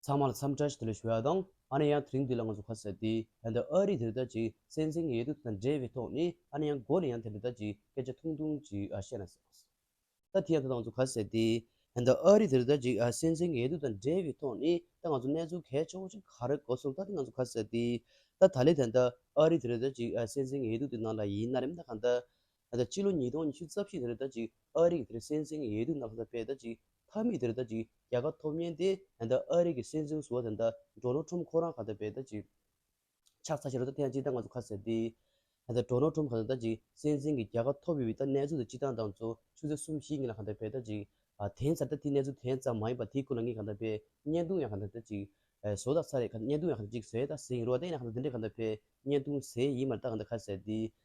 ཚང་མ་ལ་འཚམས་འདྲི་ཞུ་བ་དང་ཨ་ནེ་ཡང་དེ་རིང་འདི་ལ་ང་ཚོ་ཁ་གསལ་ཏེ་ད་ལྟ་ཨ་རིས་དེ་ལྟར་ཅིག་གསན་འཛིན་གྱི་ཡོད་དུས་དེ་དང་འབྲེལ་བའི་ཐོག་ནས་ཨ་ནེ་ཡང་མགོ་ནས་ཡང་དེ་འདི་ལྟར་ཅིག་སྐད་ཆ་ཐུང་ཐུང་ཅིག་བཤད་ན་ཟེར་བ། ད་དེ་ཡང་ད་ང་ཚོ་ཁ་གསལ་ཏེ་ད་ལྟ་ཨ་རིས་དེ་ལྟར་ཅིག་གསན་འཛིན་གྱི་ཡོད་དུས་དང་འབྲེལ་བའི་ཐོག་ནས་ད་ང་ཚོ་གནས་ཚུལ་གལ་ཆེ་བོ་ཅིག་ག་རེ་གོ་སོང་ད་དེ་ང་ཚོ་ཁ་གསལ་ཏེ་ད་ད་ལེ་ད་ལྟ་ཨ་རིས་དེ་ལྟར་ཅིག་གསན་འཛིན་གྱི་ཡོད་དུས་དེ་ནང་ལ་ཡིན་ན་རེམ་ད་གང་ལྟར་ད་ལྟ་སྤྱི་ལོ་ཉིས་སྟོང་ཉི་ཤུ་རྩ་བཞི་དེར་ད་ཅིག་ཨ་རིག་དེར་སྲན་ཟིང་ཡས་དུས་ནག་ས་པས་ད་ཅིག་ཐ་མིག་དེར་ད་ཅིག་རྒྱ་ཁ་ཐོབ་ཉེན་ཏེ་ད་ལྟ་ཨ་རིག་གི་སྲན་ཟིང་བཟོ་བ་དེ་ད་འགྲོ་ནོ་ཁྲོམ་ཁོ་རང་ག་ད་པས་ད་ཅིག་ཆགས་ཚ་ཤེས་རོགས་ད་ཐེངས་ཅིག་ད་ང་ཚོ་ཁ་ཟེར་ཏེ། ད་ལྟ་འགྲོ་ནོ་ཁྲོམ་ག་ད་ད་ཅིག་སྲན་ཟིང་གི་རྒྱ་ཁ་ཐོབ་ཡོད་པའི་ད་གནས་ཚུལ་དེ་སྤྱི་སྟངས་དང་ཚོ་ཆུ་ཚེ་གསུམ་བཞི་གཉིས་ལ་ག་ད་པས་ད་ཅིག་དེང་སར་ད་དེའི་གནས་ཚུལ་དེ་ཙམ་མ་ཡིན་པ་དེའི་ཀུན་ལ་ངས་ག་ད་པས་བརྙན་ཐུང་ཡང་ག་ད་ད་ཅིག་བཟོ་ད་ས་རེད་ག་བརྙན་ཐུང་ཡང་ག་ད་ཅིག་བཟོས་ད་ཟིང་རོགས་ད་ཡིན་ན་ག་ད་འདི་འདྲས་ག་ད་པས་བརྙན་ཐུང་བཟོས་ཡིན་མ་རེད་ད་ག་ད་ཁ་ཟེར་ཏེ།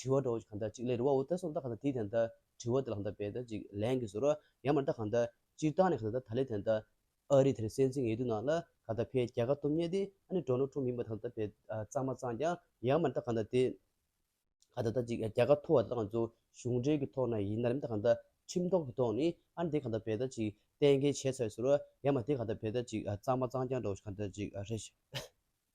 དྲི་བ་དྲོ་བ་གང་དག་ཅིག་ལས་རི་བ་འོ་དེ་སོགས་གང་དག་གང་དག་དེའི་དེ་དག་དྲི་བ་དེ་ལ་གང་དག་པས་དག་ཅིག་ལན་གྱིས་ཟོར་བ་ཡང་མ་དག་གང་དག་ཅིག་བཏང་ནས་གང་དག་ད་ལས་དེ་དག་ཨ་རི་དེར་སེམས་ཅན་ངེས་དུ་ན་ལ་གང་དག་ཕའི་རྒྱལ་ཁ་ཐོབ་ཉེ་སྟེ་ཨ་ནི་གྲོགས་ནོར་འཁྲུངས་མིན་པ་དང་དག་པས་གཙང་མ་གཙང་ཀྱང་ཡང་མ་དག་གང་དག་དེ་གང་དག་དག་ཅིག་རྒྱལ་ཁ་ཐོབ་བ་དེ་དག་ང་ཚོ་གཞུང་འབྲེལ་གྱི་ཐོག་ན་ཡིན་ནར་མི་དག་གང་དག་ཁྲིམས་ཐོག་གི་ཐོག་ནས་ཨ་ནི་དེ་གང་དག་པས་དག་ཅིག་གཏན་འཁེལ་བྱས་ཚར་བས་ཟོར་བ་ཡང་མ་དེ་གང་དག་པས་དག་ཅིག་གཙང་མ་གཙང་ཀྱང་གྲོགས་གང་དག་ཅིག་རེད།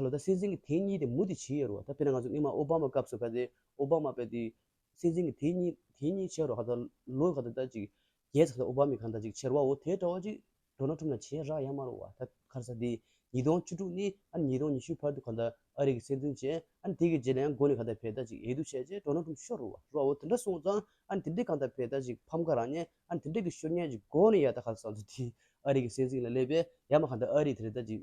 ཁ་ལོ་ད་སྲིད་འཛིན་གྱི་དེ་གཉིས་དེ་མུ་དེ་བྱེད་ཡོད་རོ་ད་དཔེར་ན་ང་ཚོ་སྔོན་མ་ཨོ་བྷ་མ་སྐབས་སུ་ཁ་ཏེ་ཨོ་བྷ་མ་པས་དེ་སྲིད་འཛིན་གྱི་དེ་གཉིས་དེ་གཉིས་བྱས་རོགས་ཁ་ད་ལོ་ཁ་ད་ད་ཅིག་རྒྱལ་ཁ་ད་ཨོ་བྷ་མས་ཁ་ད་ཅིག་བྱེད་རོགས་འོ་དེ་འདྲ་བ་ཅིག་འགྲོ་ན་ཁྲོམ་ན་བྱེད་རག་ཡ་མ་རོ་བ་ད་ཁར་ས་དེ་ཉིས་སྟོང་བཅུ་དྲུག་ནས་ཨ་ཉིས་སྟོང་ཉི་ཤུའི་བར་དུ་ཁ་ད་ཨ་རིག་གི་སྲིད་འཛིན་བྱས་ཨ་ནི་དེ་གི་རྗེས་ལ་ཡང་འགོ་ནས་ཁ་ད་བས་ད་ཅིག་ཡས་དུ་བྱས་རྗེས་འགྲོ་ན་ཁྲོམ་ཤོར་རོ་བ་རོགས་འོ་དེ་འདྲ་སོང་ཙང་ཨ་ནི་དེ་འདྲས་ཁ་ད་བས་ད་ཅིག་ཕམ་ཁ་རག་ནས་ཨ་ནི་དེ་འདྲས་ཀྱི་ཤོར་ཉེས་ཀྱི་འགོ་ནས་ཡ་ད་ཁ་ས་ཚོ་དེ་ཨ་རིག་གི་སྲིད་འཛིན་ལ་སླེབས་པས་ཡ་མ་ཁ་ད་ཨ་རིག་དེ་རེད་ད་ཅིག།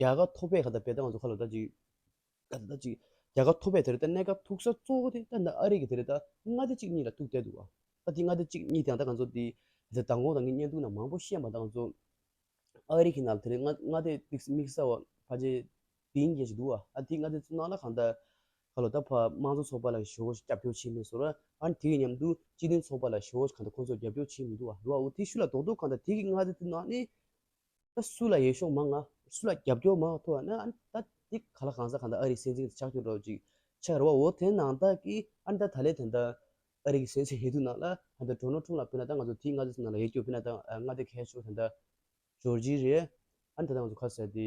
རྒྱ་གར་ཐོག་པའི་ཁ་ད་པེ་ད་ང་ཚོ་ཁ་ལ་ད་ཅིག་ཁ་ད་ད་ཅིག་རྒྱ་གར་ཐོག་པའི་དེ་རེད་ད་གནས་སྐབས་ཐུག་ས་གཙོ་བོ་དེ་ད་ནི་ཨ་རིག་གི་དེ་རེད་ད་མངའ་སྡེ་གཅིག་གཉིས་ལ་ཐུག་བསྡད་འདུག་བ་ཨ་དེ་མངའ་སྡེ་གཅིག་གཉིས་དེ་ཡང་ད་ང་ཚོ་དེ་དེ་མདང་དགོང་ད་ངས་བརྙན་ཐུང་ན་མང་པོ་ཤེས་མ་ད་ང་ཚོ་ཨ་རིག་གི་ནང་དེ་རེད་མངའ་མངའ་སྡེ་དམིགས་དམིགས་བསལ་བ་ཕ་ཇེ་དིང་རྒྱལ་ཞིག་འདུག་བ་ཨ་དེ་མངའ་སྡེ་གཙོ་ནང་ལ་གང་ད་ཁ་ལོ་ད་ཕ་དམངས་གཙོ་ཚོགས་པ་ལ་ཞོ་སྐྱབས་སྐྱོར་བྱས་མེད་སོ་ར་ཨ་དེ་ཡི་མཉམ་དུ་སྤྱི་མཐུན་ཚོགས་པ་ལ་ཞོ་གང་ད་ཁོང་ཚོ་སྐྱབས་སྐྱོར་བྱས་མི་འདུག་བ་བ་འུ་དེ་ཤུ་ལ་དོག་དོག་གང་ད་དེ་གི་མངའ་སྡེ་དེ་ནང་ནས་ད་སུ་ལ་ཡེ་ཤོག་མ་ང་སུ་ལ་རྒྱབ་སྐྱོར་མ་ཐོ་ཨ་ཨ་ད་དེ་ག་ལ་གང་ཟག་གང་ད་ཨ་རིག་སེ་འཛིང་ཆག་ཆོག་འགྲོ་ཅིག་ཆག་རེ་བ་འོ་དེ་ནང་ད་གི་ཨ་ནི་ད་ད་ལེ་དེ་ད་ཨ་རིག་སེ་འཛིང་ཧེ་དུ་ནང་ལ་ད་ད་འགྲོ་ནོ་ཁྲུང་ལ་ཕེ་ན་ད་ང་ཚོ་དེ་ང་ཚོ་ནང་ལ་ཡེ་སྐྱོ་ཕེ་ན་ད་ང་ད་ཁ་ཤོག་དེ་ད་ཇོར་ཇི་རེད་ཨ་ནི་ད་ད་ང་ཚོ་ཁ་ཟེར་དེ།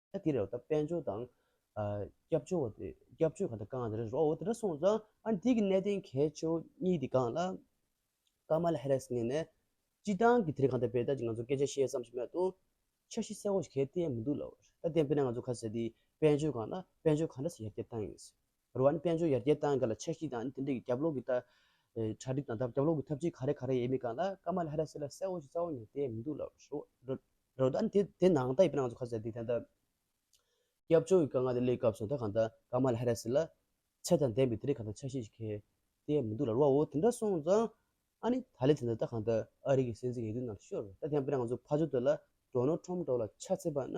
དེ་རེད་དཔལ་འབྱོར་དང། སྐྱབས་བཅོལ་བ་དེ་སྐྱབས་བཅོལ་གང་དེ་གང་དེ་རེད་འོ་དེ་འདྲ་སོང་ཙང་ཨ་འདི་གི་གནད་དོན་གལ་ཆེ་བོ་གཉིས་དེ་གང་ལ། ཀ་མ་ལ་ཧེ་རེས་ངེས་ནས་སྤྱི་བཏང་གི་དེ་རིང་གང་ཐད་པའི་ད་ཅི་ང་ཚོ་སྐད་ཆ་བཤད་བསམ་ཞིག་མེད་དོ། འཆར་གཞི་གསལ་བོ་ཞིག་གལ་ཏེ་མི་འདུག་ལ། ད་ལྟའི་དཔེར་ན་ང་ཚོ་ཁ་ཟེར་དེ་དཔལ་འབྱོར་གང་ལ་དཔལ་འབྱོར་གང་འདྲ་སོ་ཡར་རྒྱས་བཏང་ཡིན། རུ་བ་ནི་དཔལ་འབྱོར་ཡར་རྒྱས་བཏང་གི་ལ་ཆ་ཞིག་དང་དེ་འབྲེལ་རྒྱབ་ལོག་གི་གྲ་སྒྲིག་དང་རྒྱབ་ལོག་གི་ཐབས་ཇུས་ག་རེ་ག་རེ་ཡེ་མི་གང་ལ་ཀ་མ་ལ་ཧེ་ར་སི་ལ་གསལ་བོ་ཞིག་རྩ་བ་ནས་བསྟན་མི་འདུག་ལ་རུ་བ་ནི་དེ་དེ་ནང་ལྟ་ཡི་པི་ནང་ཚོ་ཁ་ཟེར་དེ་ད་ལྟ་སྐྱབས་བཅོལ་གི་དཀའ་ངལ་དེ་སླེབས་སྐབས་སུ་ད་གང་ལྟ་ཀ་མ་ལ་ཧེ་ར་སི་ལ་ཚད་དང་ལྡན་པའི་དེ་རིགས་གང་ལྟ་ཆ་ཤས་ཤིག་གས་བསྟན་མི་འདུག་ལ་རུ་བ་འོ་དེ་འདྲ་སོང་ཙང་ཨ་ནི་ད་ལེ་དེ་ད་ད་གང་ལྟ་ཨ་རིག་གི་སྲིད་འཛིན་ཡིན་དུས་ནང་དུ་ཤོར་ད་དེ་ཡང་པི་ནང་ཚོ་ཕ་ཇོ་དེ་ལ་སྒྲོ་ནོར་ཁྲོམ་སྒྲོག་ལ་ཆ་ཚད་པ་ན་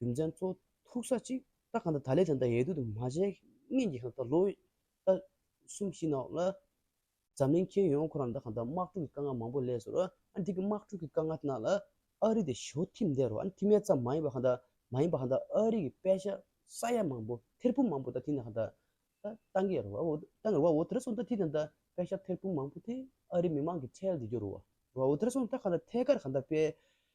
རྒྱུ་མཚན་ཚོ་ཐུག་ས་ཅིག་ད་གང་ད་ད་ལས་དེ་འདྲ་ཡལ་དུས་དུ་མ་བྱས་ངན་གྱི་གང་ད་ལོ་ད་གསུམ་བཞི་ནང་ལ་འཛམ་གླིང་མཁྱེན་ཡོང་ཁོ་རང་ད་གང་ད་དམག་འཁྲུག་གི་དཀའ་ངལ་མང་པོ་ལས་སོར་ཨ་འདི་གི་དམག་འཁྲུག་གི་དཀའ་ངལ་དེ་ནང་ལ་ཨ་རི་དེ་ཞོ་ཐིམ་བསྡད་རོགས་ཨ་ཐིམ་མེད་ཙམ་མ་ཡིན་པ་གང་ད་མ་ཡིན་པ་གང་ད་ཨ་རི་གི་དཔེ་ཆ་ས་ཡ་མང་པོ་ཐེར་འབུམ་མང་པོ་ད་དེ་ནང་གང་ད་ད་གཏང་གི་རོགས་ཨོ་གཏང་གི་རོགས་ཨོ་དེ་ར་སོང་ད་དེ་ནང་ད་དཔེ་ཆ་ཐེར་འབུམ་མང་པོ་དེ་ཨ་རི་མི་མང་གི་ཁྲལ་དེ་རྒྱོ་རོགས་ཨོ་དེ་ར་སོང་ད་གང་ད་ཐད་ཀར་གང་ད་དཔེ་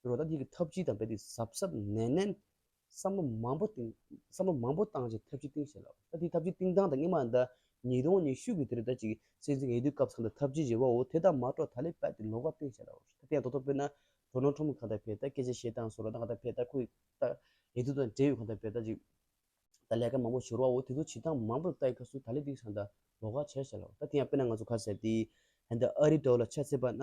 དེ་རུ་ད་ལྟའི་གི་ཐབས་ཇུས་དང་འབད་པས་གཟབ་གཟབ་ནན་ནན། བསམ་བློ་མང་པོ་བཏིང། བསམ་བློ་མང་པོ་བཏང་རྗེས་ཐབས་ཇུས་བཏིང་བྱས་ལ། ད་ལྟའི་ཐབས་ཇུས་བཏིང་སྟངས་དང་སྙིགས་མ་ཟླ་ཉིས་སྟོང་ཉི་ཤུ་གི་དེ་རུ་ད་ཅིག་སྲིད་འཛིན་གྱི་འོས་བསྡུའི་སྐབས་ཚང་དུ་ཐབས་ཇུས་བཞེས་བའོ་དེ་དག་མ་གཏོགས་ད་ལས་པད་དེ་ལོག་པ་བཏིང་བྱས་ལ། ད་ལྟའི་ཡང་ཐོག་ཐོག་པོས་ན་དོ་སྣང་ཁྲོམ་གང་དག་བས་ད་སྐད་ཆ་བཤད་སྟངས་སོགས་ལ་ད་གང་དག་བས་ད་ཁོའི་ད་འོས་བསྡུ་དང་འབྲེལ་ཡོད་གང་དག་བས་ད་ཅིག་ད་ལས་ཀ་མང་པོ་ཤོར་བའོ་དེ་ཚོ་བྱེད་སྟངས་མང་པོ་ལ་ད་ཡི་ཁ་སུ་ད་ལས་དིག་ཚང་ད་ལོག་ཁ་བྱས་བྱས་ལ། ད་དེ་ཡང་དཔེར་ན་ང་ཚོ་ཁ་ཟས་དེ་ཧན་ད་ཨ་རི་འདྲ་བ་ལ་ཆ་ཚད་པ་ན།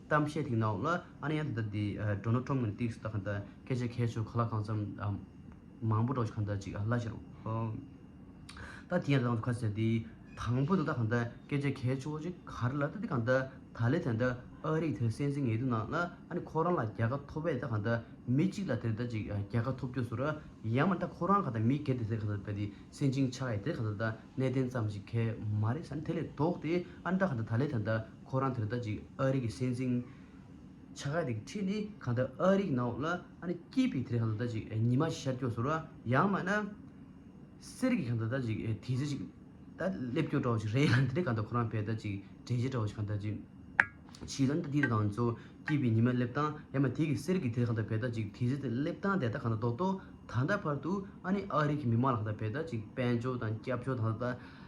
གཏམ་བཤད་དེའི་ནང་ལ་ཨ་ནེ་ཡང་དེ་ལྟར་དེའི་སྒྲོ་ནོར་ཁྲོམ་ངོས་ནས་བཏིགས་སུ་བཏགས་གང་དང་སྐད་ཆ་ཁད་ཆོས་ག་ལ་གང་འཚམ་མང་པོ་སྒྲོག་ཅིག་གང་དང་ཅིག་ལ་ཤར་ད་དེ་ཡང་དང་དུ་ཁ་ཟེར་དེའི་དང་པོ་དེ་དག་གང་དང་སྐད་ཆ་ཁད་ཆོས་ཅིག་གར་ལ་ད་དེ་གང་དང་ད་ལས་དེ་ལྟར་ཨ་རིག་དེ་སེམས་ཅན་ངལ་དུབ་ནང་ལ་ཨ་ནེ་ཁོ་རང་ལ་རྒྱལ་ཁ་ཐོབ་བས་ད་གང་དང་མི་གཅིག་ལ་དེ་ལྟར་ཅིག་རྒྱལ་ཁ་ཐོབ་རྒྱུས་སུ་ར་ཡང་མ་ད་ཁོ་རང་གང་དང་མི་སྒེར་དེ་ཟེར་གང་དང་བས་དེ་སེམས་ཅན་ཆགས་ཡས་དེ་གང་དང་ད་གནས་བརྟན་ཙམ་ཞིག་ཁས་མ་རེད་ས་ནི་དེ་ལས་ལྡོག་སྟེ་ཨ་ནེ་ད་གང་དང་ད་ལས་དེ་ལྟར་ཁོ་རང་དེར་ལྟ་ཅིག་ཨ་རིག་གི་སྲས་འཛིན། ཆ་ག་དེ་གི་ཁྲིད་ནི་གང་ལྟར་ཨ་རིག་ནའོ་ལ་ཨ་ནི་སྐྱིད་པའི་དེར་གང་ལྟར་ལྟ་ཅིག་ཉི་མ་ཤར་སྐྱོ་ཟོར་བ་ཡང་མ་ན། གསེར་གྱི་གང་ལྟར་ལྟ་ཅིག་དེ་ཟེར་ཅིག་ད་སླེབས་སྐྱོ་བྲོ་ཞིག་རེད་ཡང་དེ་ནི་གང་ལྟར་ཁོ་རང་བས་ལྟ་ཅིག་དྲན་བྱེད་བྲོ་ཞིག་གང་ལྟར་ཅི། བྱིས་ལ་ནི་ད་དེའི་དང་ཚོ་སྐྱིད་པའི་ཉི་མ་སླེབས་སྟངས་ཡང་མ་དེ་གི་གསེར་གྱི་དེར་གང་ལྟར་བས་ལྟ་ཅིག་དེ་ཟེར་དེ་སླེབས་སྟངས་དེ་ལྟར་གང་ལྟར་རྡོག་རྡོག་ད་ལྟ་བར་དུ་ཨ་ནི་ཨ་རིག་གི་མི་མང་ལ་གང་ལྟར་བས་ལྟ་ཅིག་དཔལ་འབྱོར་དང་སྐྱབས་འབྱོར་ད་ལྟ།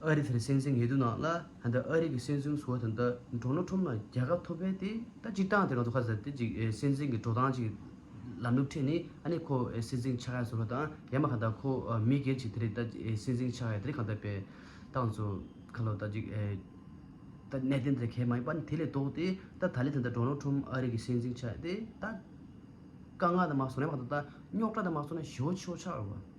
ཨ་རི་དེར་སྲིད་འཛིན་ངལ་དུབ་གནང་ལ་ད་ཨ་རི་གི་སྲིད་འཛིན་བཟོ་བ་དེ་འདྲ་འགྲོ་ན་ཁྲོམ་ན་རྒྱལ་ཁ་ཐོབ་པས་དེ་ད་སྤྱིར་བཏང་དེ་ང་ཚོ་ཁ་ཟེར་དེ་ཅིག་སྲིད་འཛིན་གྱི་འགྲོ་སྟངས་ཅིག་ལམ་ལུགས་ཁྲིད་ནས་ཨ་ནི་ཁོ་སྲིད་འཛིན་ཆགས་ཡ་བཟོ་ལ་དང་ཡ་མ་གང་ད་ཁོ་མི་སྒེར་ཅིག་དེ་རེད་ད་སྲིད་འཛིན་ཆགས་ཡ་དེ་རིགས་གང་ད་པའི་ཏང་གཙོ་ཁ་ལོ་ད་ཅིག་ད་གནད་དོན་དེ་གལ་མ་ཡིན་པ་ནི་དེ་ལས་ལྡོག་ཏེ་ད་ད་ལི་དེ་འདྲ་འགྲོ་ན་ཁྲོམ་ཨ་རི་གི་སྲིད་འཛིན་ཆགས་ཡ་དེ་ད་དཀའ་ངལ་དང་མ་བཟོ་ན་ཡ་མ་གང་ད་རྙོག་དྲ་དང་མ་བཟོ་ན་ཞི་བོ་ཆི་བོ་ཆགས་ཡོད་པ།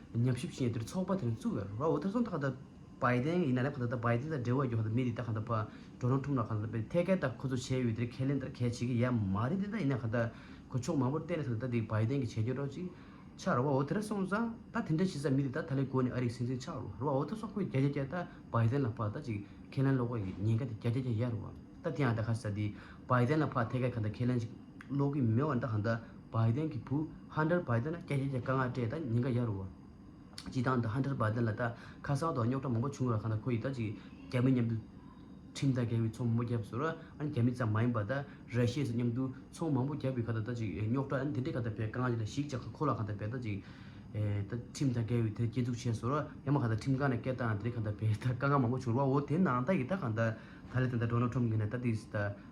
ཉམས་ཞིབ་བྱེད་དུས་ཚོགས་པ་དེ་རིང་བཙུགས་ཡོད་རེད། འོ་ད་སོང་ད་ག་ད་བའི་དེ་ཡིན་ན་ལེ་ག་ད་ད་བའི་དེ་ད་འབྲེལ་བ་ཡོད་ག་ད་མི་རིགས་ད་ག་ད་བ་འགྲོ་རང་ཐུབ་ན་ག་ད་ཐད་ཀར་ད་ཁོ་ཚོ་བྱས་ཡོད་དེ་ཁས་ལེན་ད་གས་བྱེད་ཀྱི་ཡ་མ་རེད་དེ་ད་ཡིན་ན་ག་ད་གོ་ཕྱོགས་མང་པོར་བལྟས་ན་ག་ད་ད་དེ་བའི་དེ་གི་བྱས་རྒྱུ་རོགས་ཅིག་ཆགས་རོགས་འོ་ད་ར་སོང་ཙང་ད་དེ་འདྲ་བྱེད་ས་མི་རིགས་ད་ད་ལེ་གོ་ནས་ཨ་རིག་སིང་སིང་ཆགས་རོགས་རོགས་འོ་ད་སོང་ཁོས་རྒྱ་རྒྱ་རྒྱ་ད་བའི་དེ་ལ་བ་ད་ཅིག་ཁས་ལེན་ལོག་གོ་ཡིན་ཉེན་ག་ད་རྒྱ་རྒྱ་རྒྱ་ཡ་རོགས་ད་དེ་ཡང་ད་ག་ས་ད་བའི་དེ་ལ་བ་ཐད་ཀར་ག་ད་ཁས་ལེན་ཅིག། ནོག་གི་མེ་བ་འདྲ་ཧ་འདྲ་བ་ཡི་དན་གི་བུ་ཧ་འདྲར་བ་ཡི་དན་ན་སྐྱ་རྒྱལ་གྱི་བཀའ་མངགས་སྤྲད་ད་ཉིན་འགའ་ཡར་རུ་བ། སྤྱི་བཏང་འདི་ཧ་འདྲར་བ་ཡི་དན་ལ་ད་ཁ་སང་དང་རྙོག་དྲ་མང་པོ་བྱུང་ར་ཁ་ན་ཁོ་ཡི་ད་ཅིག་རྒྱ་མི་མཉམ་དུ་ཁྲིམས་ཐག་འགལ་བའི་ཚོང་མང་པོ་རྒྱབ་སོ་ར་ཨ་རྒྱ་མི་ཙམ་མ་ཡིན་པ་ད་ར་ཤེས་སུ་མཉམ་དུ་ཚོང་མང་པོ་རྒྱབ་པའི་ཁ་ད་ད་ཅིག་རྙོག་དྲ་འདི་འདྲའི་ཁ་ད་བས་བཀའ་མངགས་ཅི་ད་ཞིག་ཅག་ཁ་ཁོ་ལ་ཁ་ད་བས་ད་ཅིག་ད་ཁྲིམས་ཐག་འགལ་བའི་དེ་སྐྱེ་འཛུགས་བྱས་སོ་ར་ཡ་མ་ཁ་ད་ཁྲིམས་ཁང་ནས་སྐད་བཏང་འདི་རེ་ཁ་ད་བས་ད་དཀའ་ངལ་མང་པོ་བྱུང་ར་བ་འོ་དེ་ནང་ད་ཡི་ད་ཁ་ད་ད་ལེ་དེ་ད་འགྲོ་ན་ཁྲོམ་གི་ནས་ད་དེ་ད།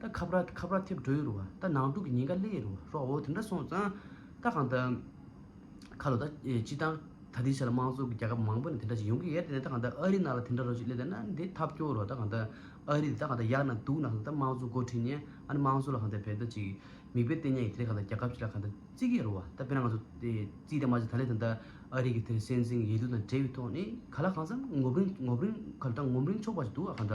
ད་ཁ་བར་ཁ་བར་ཐེབས་འགྲོ་ཡི་རུ་ཨ་ད་ནང་དུག་གི་ཉེན་ཁ་སླེ་ཡི་རུ་ཨ་རོགས་འོ་དེ་འདྲ་སོང་ཙང་ད་གང་ད། ཁ་ལོ་ད་སྤྱི་བཏང་ད་དེའི་ཆ་ལ་དམངས་གཙོ་གི་རྒྱལ་ཁབ་མང་པོ་ནས་དེ་འདྲ་ཞིག་ཡོང་གི་ཡེ་རེད་ད་གང་ད་ཨ་རི་ནང་ལ་དེ་འདྲ་རོ་ཞིག་སླེ་ད་ན་དེ་ཐབས་སྐྱོ་རུ་ཨ་ད་གང་ད། ཨ་རི་དེ་ད་གང་ད་ཡག་ན་སྡུག་ན་གང་ད་དམངས་གཙོ་འགོ་ཁྲིད་ནས་ཨ་ནི་དམངས་གཙོ་ལ་གང་ད་བལ་ད་ཅིག་མིག་དཔེ་བལྟས་ཉན་གི་དེ་གང་ད་རྒྱལ་ཁབ་ཅིག་ལ་གང་ད་བརྩི་གི་ཡེ་རུ་ཨ་ད་དཔེར་ན་ང་ཚོ་བརྩིས་ད་མ་བྱས་ད་ལེ་ད་ད་ཨ་རི་གི་དེར་སྲན་འཛིང་ཡེ་རྡུ་དང་འབྲེལ་བའི་ཐོག་ནས་ག་ལ་གང་ཟག་ངོབ་རིང་ངོབ་རིང་ག་ལ་ད་ངོམ་རིང་ཆོག་པ་ཞིག་འདུག་ཨ་གང་ད།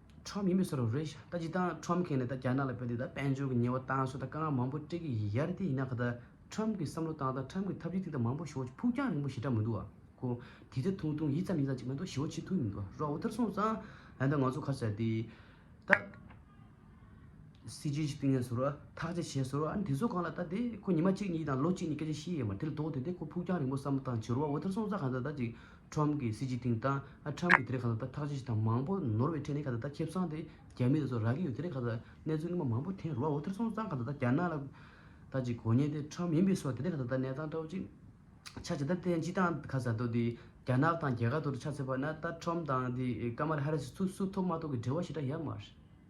ཁྲོམ་ཡིན་པའི་སོ་ར་རེད་ཤ་ད་ཅི་དང་ཁྲོམ་གན་ནས་ད་རྒྱ་ནག་ལ་བོད་དེ་ད་དཔལ་འབྱོར་གི་ཉེ་བ་དང་སོ་ད་དཀའ་ངལ་མང་པོ་སྤྲད་གི་ཡ་རེད་དེ་ཡིན་ན་ག་ད་ཁྲོམ་གི་བསམ་བློ་དང་ད་ཁྲོམ་གི་ཐབས་ཇུས་ཐིག་ད་མང་པོ་ཞོ་ཕུགས་རྒྱང་རིང་པོ་ཞེ་དྲག་མི་འདུག་ཨ་ཁུ་དེ་ད་ཐུང་ཐུང་ཡིད་ཙམ་ཡིད་ཙམ་ཅིག་མ་གཏོགས་ཞོ་ཆེ་ཐུང་མི་འདུག་ཨ་རོགས་འུ་ཐར་སོང་ཙང་ཡ་ད་ང་ཚོ་ཁ་ཟེར་དེ་ད་སྲིད་ཇུས་ཅིག་བཏིང་ནས་སོ་ར་ཐག་ཅིག་བྱས་སོ་ར་ཨ་དེ་ཚོ་གང་ལ་ད་དེ་ཁོ་ཉི་མ་གཅིག་གཉིས་དང་ལོ་གཅིག་གཉིས་སྐད་ཆ་བཤད་ཡས་མ་རེད་དེ་ལ་ལྡོག་དེ་ད་ཁོ་ཕུགས་རྒྱང་རིང་པོ་བསམ་བློ་དང་བྱི་རུ་བ་འུ་ཐར་སོང་ཙང་ག་ད་ད་ཅིག་ཁྲོམ་གྱི་སྲིད་སྤྱི་ཐིང་དང་ཨ་ཁྲམ་གྱི་དེ་རེ་ཁ་ད་ད་ཐག་ཆེ་ཆེ་དང་མང་པོ་ནོར་བའི་ཁྲེ་ནི་ཁ་ད་ད་ཁྱེད་བསང་དེ་རྒྱ་མི་དེ་ཚོ་རག་གི་ཡོད་དེ་རེ་ཁ་ད་ད་གནས་ཚུལ་སྔ་མ་མང་པོ་དེ་རུ་བ་འོ་དེ་རེ་སོང་ཙང་ཁ་ད་ད་རྒྱ་ནག་ལ་ད་ཅིག་གོ་ཉེན་དེ་ཁྲོམ་མིན་པའི་སོ་དེ་རེ་ཁ་ད་ད་གནས་སྟངས་ཏྲོ་ཅིག་ཆ་ཇི་ལྟར་བསྟན་སྤྱི་དང་ཁ་ཟ་ཏོ་དེ་རྒྱ་ནག་དང་རྒྱ་གར་དོ་རུ་ཆ་ཚེ་པ་ན་ད་ཁྲོམ་དང་དེ་ཀ་མ་ར་ཧ་ར་སི་ཚུ་སུ་ཐོབ་མ་ཐོབ་གི་འབྲེལ་བ་ཞེ་དྲག་ཡ་མ་རེད།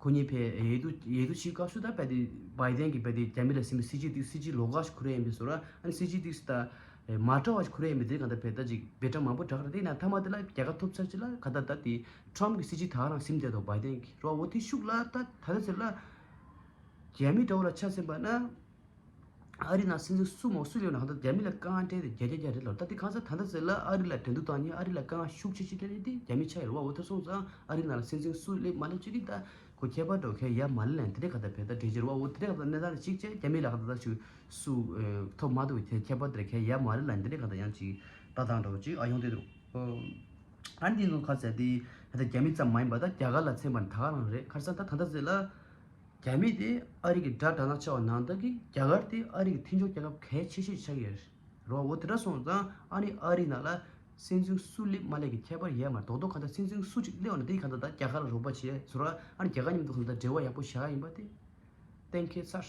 ཁོ་གཉིས་ཕེ་ཡེ་ཏུ་ཡེ་ཏུ་ཆིའི་སྐབས་སུ་ད་བལ་ཏི་བའི་དན་གྱི་བལ་ཏི་རྒྱ་མི་ལ་སིན་པའི་སི་ཇི་ཏིག་སི་ཇི་ལོ་ག་ཞིག་ཁུ་རེ་ཡིན་པའི་སོ་ར་ཨན་སི་ཇི་ཏིག་སི་ད་མ་ཏྲ་བ་ཞིག་ཁུ་རེ་ཡིན་པའི་དེ་གང་ད་བལ་ད་ཅིག་བལ་ཏྲ་མང་པོ་གྲག་རེ་དེ་ན་ཐ་མ་དེ་ལ་རྒྱ་གར་ཐོབ་ཚར་ཅིག་ལ་ག་ད་ད་ཏི་ཏྲམ་གྱི་སི་ཇི་དག་རང་སིམ་བསྡད་དོ་བའི་དན་གྱི་རོ་བོ་དེ་ཤུགས་ལ་ད་ད་ད་ཟེར་ལ་རྒྱ་མི་ཏྲ་བོ་ལ་ཆ་སིམ་པ་ན། ཨ་རི་ནང་སྲིད་འཛིན་སུ་མོ་སུ་ལེ་ཝན་ཧ་ཏུ་རྒྱ་མི་ལ་དཀའ་ངལ་འཕྲད་དེ་རྒྱལ་རྒྱ་རྒྱ་རི་ལོར་ལྟ་དེ་གང་ཟག་ད་ལྟ་ཟེར་ལ་ཨ་རི་ལ་འགྲན་བསྡུར་བཏང་ཉིན་ཨ་རི་ལ་དཀའ་ངལ་ཤུགས་ཆེ་ཆེ་འཕྲད་དེ་རྒྱ་མི་ཆ་ཡི་རུ་བ་འོ་ཐོད་སོང་ཙང་ཨ་རི་ནང་སྲིད་འཛིན་སུ་ལེ་མ་ལ་ཅི་རིགས་ལྟ་གོ་ཁྱད་པར་འགྲོ་མཁན་ཡ་མ་ལི་ལན་ཐི་རེ་ག་ད་བེ་ད་དྲེ་ཅི་རུ་བ་འོ་ཐི་རེ་ག་ད་གནས་སྟངས་ཅིག་ཅེས་རྒྱ་མི་ལ་ག་ད་ད་ཞུ་སུ་ཐོབ་མ་ཐུབ་ཁྱད་ཁྱད་པར་འདྲ་མཁན་ཡ་མ་རི་ལན་ཐི་རེ་ག་ད་ཡང་ཅིག་ལྟ་དང་འགྲོ་ཅིག་ཨ་ཡོང་དེ་འདུག་ཨ་རི་དེ་ཚོ་ག་ད་ཟེར་དེ་ད་རྒྱ་མི་ཙམ་མ་ཡིན་པ་ད་རྒྱ་གར་ལ་མཚན་པ་ད་ག་རང་རེད་ཁར་སང་ད་ད་ཟེར་ལ། རྒྱ་མི་དེ་ཨ་རི་གི་དགྲ་དྲག་ན་ཆེ་བ་ནང་བསྟན་གི་རྒྱ་གར་དེ་ཨ་རི་གི་མཐིང་ཆོག་རྒྱལ་ཁབ་གལ་ཆེ་ཤོས་ཆགས་ཀྱི་རོ་འོ་དེ་འདྲ་སོང་ཙང་ཨ་ནི་ཨ་རི་ནང་ལ་སྲིད་འཛིན་སུ་སླེབས་མ་སླེབས་ཀྱི་ཁྱད་པར་ཡལ་མར་དོག་དོག་གང་ལྟར་སྲིད་འཛིན་སུ་གཅིག་སླེབས་ན་དེ་གང་ལྟར་ད་རྒྱ་གར་ལ་རོགས་པ་བྱེད་ཟོ་ར་ཨ་ནི་རྒྱ་གར་ཉམས་དུ་གང་ལྟར་འབྲེལ་བ་ཡག་པོ་བྱ་ཡིན་པ་དེ་གཏན་ཁེལ་ཚར།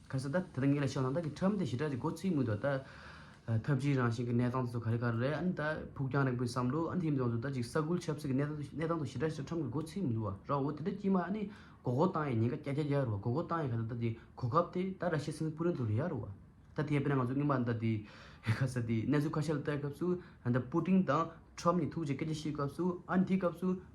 ཁ་སང་ད་ལྟ་ངས་ལ་ཤག་ནང་ད་གི་ཁྲམ་དེ་ཞི་དྲག་ཅིག་མགོ་ཚིག་མུས་ཐོག་ད། ཐབས་ཇུས་རང་བཞིན་གི་གནས་སྟངས་དེ་ཚོ་ག་རེ་ག་རེ་རེད་ཨ་ནི་ད་ཕུགས་རྒྱང་རིང་པོའི་བསམ་བློ་ཨ་ནི་དེ་མིན་ཡོངས་སུ་ད་ཅིག་ས་ཁུལ་ཆབ་སྲིད་ཀྱི་གནས་གནས་སྟངས་དུ་ཞི་དྲག་ཅིག་ཁྲམ་གྱི་མགོ་ཚིག་མི་འདུག་བ་ར་འོ་དེ་འདྲ་ཀྱིས་མ་ཨ་ནི་མགོ་སྐོར་བཏང་ཡས་ཉིན་ཀ་གྱ་གྱ་གྱ་རུ་བ་མགོ་སྐོར་བཏང་ཡས་ཁ་ད་ད་དེ་གོ་སྐབས་དེ་ད་ར་ཤི་སིང་སྤུ་རན་དུ་རེད་ཡ་རུ་བ། ད་དེ་ཡས་པས་ན་ང་ཚོ་སྔོན་མ་ད་དེ་ཁ་ས་དེ་གནས་ཚུལ་ཁ་ཤས་ལ་བལྟ་སྐབས་སུ་ཨ་ནི་ད་སྤུ་ཏིང་དང་ཁྲམ་གཉིས་ཐུག་ཅིག་སྐད་ཆ་བཤད་སྐབས་སུ་ཨ་ནི་དེའི་སྐབས་སུ།